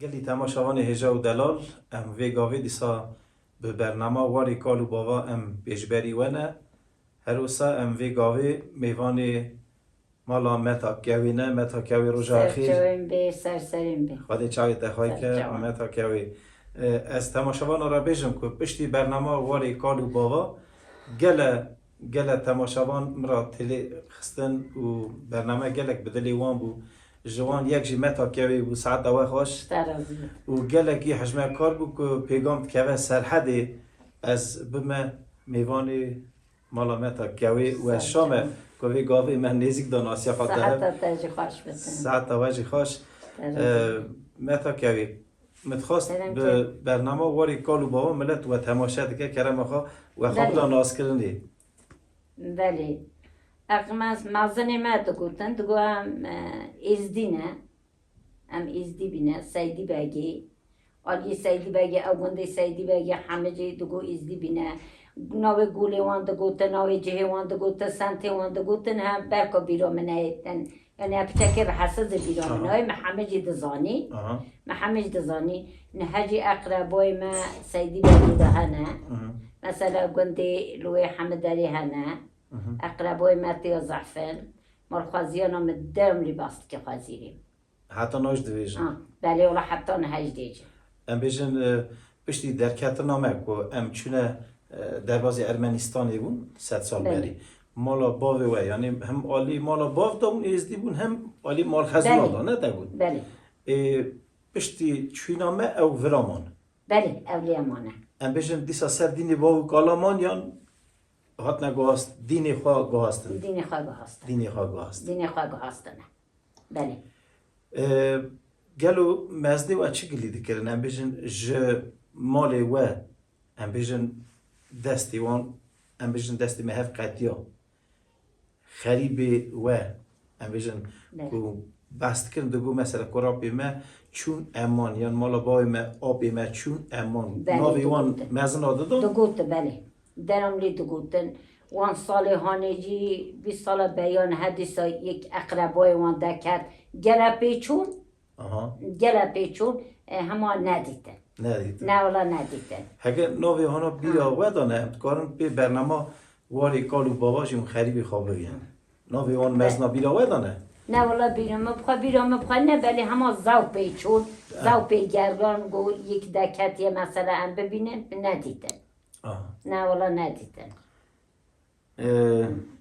Gelî tema şavanê hêja û delal, em vê gavê dîsa bi bernama Warê kal û bava em pêşberî we ne. Her wisa em vê gavê mêvanê mala Meta Kewê ne. Meta Kewê roja xêr. Ser çawên bê, ser serên bê. Xwedê çavê te xay ke Meta Kewê. Ez temaşavana re bêjim ku piştî bernama Warê kal û bava gele Gele temaşavan min ra têlê xistin û bername gelek bi dilê wan bû. Ji wan yek jî Meta Kewê bû, saet dawe xweş û gelekî hejmekar bû ku pêgam dikeve Serhedê ez bime mêvanê mala Meta Kewê û ez şame ku vê gavê me nêzîk da nasiya xwe dihe. Saeta te jî xweş. Meta Kewê. Me dixwast bi bernama warê kal û bava milet we temaşe dike kerema xwe we xwe bida naskirinê. Belê. Ex me mezinê me digotin digo em êzdî ne. Em êzdî bîne Seydî Begê. Aliyê Seydî Begê ew gundê Seydî Begê Hemicê digo êzdî bîne. Navê golê wan digotin, navê cihê wan digotin, semtê wan digotin he berka bîra min neyêtin. Ene piçekê bi Hesil di bîra min aye, me heme jî dizanî, me heme jî dizanî. Niha jî eqreboyê me Seydî Berdî de hene. Mesela gundê li wê Hemiderê hene. Eqreboyê me têya zehfin. Ma li xweziyana min dewmlî bas dike xwezîrî. Heta naj dibêjin? Belê wala heta nihaj dêjin. Em bêjin piştî derketina me ku em çûne derbazê Ermenîstanê bûn sed sal berî. Mala bavê we yanî hem alî mala bav de bûn êzdî bûn hem alî mal Hezûla de ne de bûn. Belê. Ê piştî çûna me ew vira man. Belê ewlêya man e. Em bêjin dîsa ser dînê bav û kala man yan hatine guhast dînê xwe guhastin? Dînê xwe guhastin. Dînê xwe guhastin. Dînê xwe guhastine. Belê. Gelo mezdê we çi gilî dikirin? Em bêjin ji malê we, em bêjin destê wan, em bêjin destê me hev qetiya. Xerîbê we, em bêjin ku behs dikirin digo mesela ku rapê me çûn eman yan mala bavê me apê me çûn eman. Navê wan mezin a dido? Digot belê. Deram lê digotin. Wan salê hanê jî bîst sala beyan he dîsa yek eqrebayê wan deket. Gele pê çûn? Aha. Gele pê çûn? E, hema nedîtin. Nedîtin. Ne wala nedîtin. Heke navê hana bîra we de ne em dikarin pê bernama warê kal û bava jî hûn xerîbî xwe bigihînin. Navê wan mezna bîra we de ne? Ne wala bîra me bi xwe bîra me bi xwe ne belê hema zew pê çûn, zew pê gergan ku yek deketiye mesela em bibînin nedîtin. Na wala nedîtin.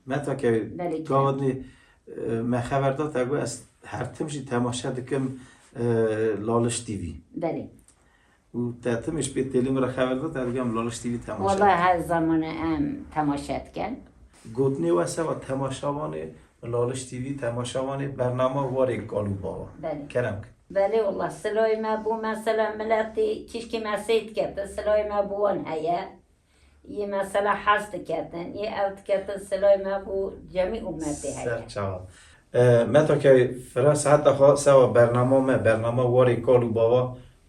Me ta ke gawadnê me xeber da te got ez her tim jî temaşe dikim Laliş TV. Belê. Û te tim ji pê têlê min re xeber da te digam Laliş TV temaşe. Wala her zamanê em temaşe dikin. Gotinê we seba temaşevanê Laliş TV temaşa wanê bernama warê Galu Baba. Belê. Kerem ki. Belê wala silayê me bo mesela miletê kîşkê me sey diketin silayê me bo wan heye yê mesela hez diketin yê ew diketin silayê me bo cemî umetê heye. Ser çawa. Meta ke fira seheta xwe sewa bernama me bernama warê Galu Baba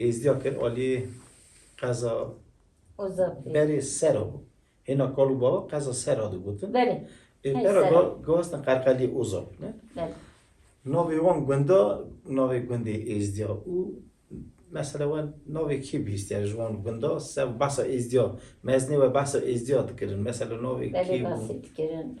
Êzdiya kir aliyê qeza berê sera bû. Hêna kal û bava qeza sera digotin. Belê. Pera gihastin qerqeliyê Ozab. Navê wan gunda navê gundê Êzdiya û mesela we navê kî bihîstiye ji wan gunda se behsa êzdiya meznê we behsa êzdiya dikirin mesela navê kî bû? Belê behsê dikirin.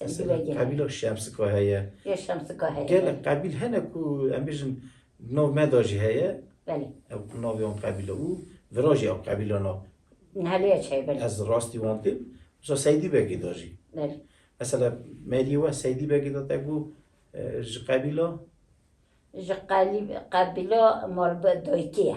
Mesela Sendile gel. qebîla Şemsika heye. Ya Şemsika heye. Gelek qebîl hene ku em bêjin di nav me da jî heye. Belê. Ew ku navê wan qebîl e û virajê ew qebîlan e. Nihaliya çi heye belê. Ez rastî wan tê. Mesela Seydî Begê da jî. Belê. Mesela Meriyê we Seydî Begê da te ku ji qebîla Ji qelîb qebîla Malbi Doykî ye.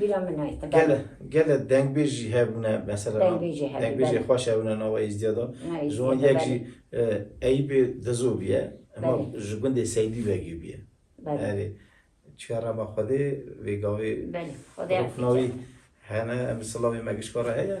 Bîra min e. Gele gele dengbêj jî hebûne mesela Dengbêj jî hebû, dengbêjê belê. xweş hebûne nava Êzdiya de. Na Ji wan Êzdiya de, yek jî e, Eyîpê Dizo bûye ema Belê. ji gundê Seydî vegî bûye. Belê. Erê çiya rama Xwedê vê gavê Belê. Xwedê Xwedê affêce. navî hene em li Silavê Megişkar re heye.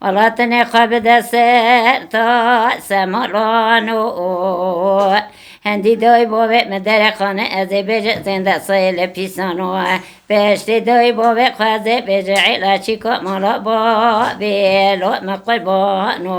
Ala tenê xwe bide ser ta sema rano Hendî dayî bavê min derê xane ez ê bêje zênde sayê li pîsano Beştê dayî bavê xwe ez ê bêje êla çîka mala bavê lo min qurbano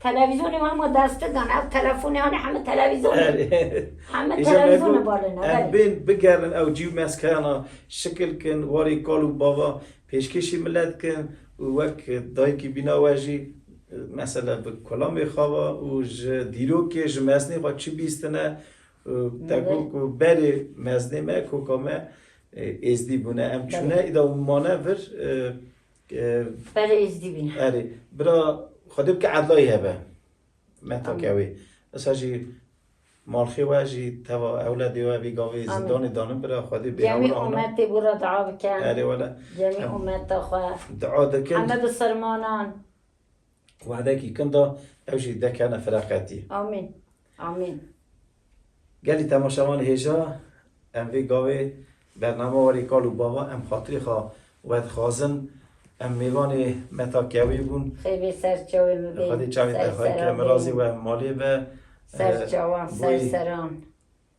Televîzyonê wan ma desttir dan, ev telefonê wan e heme televîzyon e. Heme televîzyon e balê ne. Ev bên bigerin ew cîw meskeyan a şikil kin, warê kal û bava pêşkêşî milet kin û wek dayikî bîna we jî mesela bi kolamê xwe ve û ji dîrokê ji mezinê xwe çi bîstine te got ku berê mezinê me, koka me êzdî bûne. Em çûne îda û mane vir Berê Êzdî bîne. Erê, bira Xwedê bike edlayî hebe. Metake wê. Esa jî malxê we jî teva ewledê we vî gavê zîndanê danin bira Xwedê bê Cemî hewra ana. umetê bû re dua bike. Erê wele. Cemî umeta xwe. Dua dikin. Heme bi sermanan. Wexdekî kinda ew jî dekene fereqetî. Amîn. Amîn. Gelî temaşevanê hêja em vê gavê bername warê kal û bava em xatirê xwe wedixwazin. Em mêvanê Meta Kewê bûn. Xêvê ser çawê min bê. Xwedê çavê te xwe kir. Mirazê we malê be. Ser çawan, ser seran.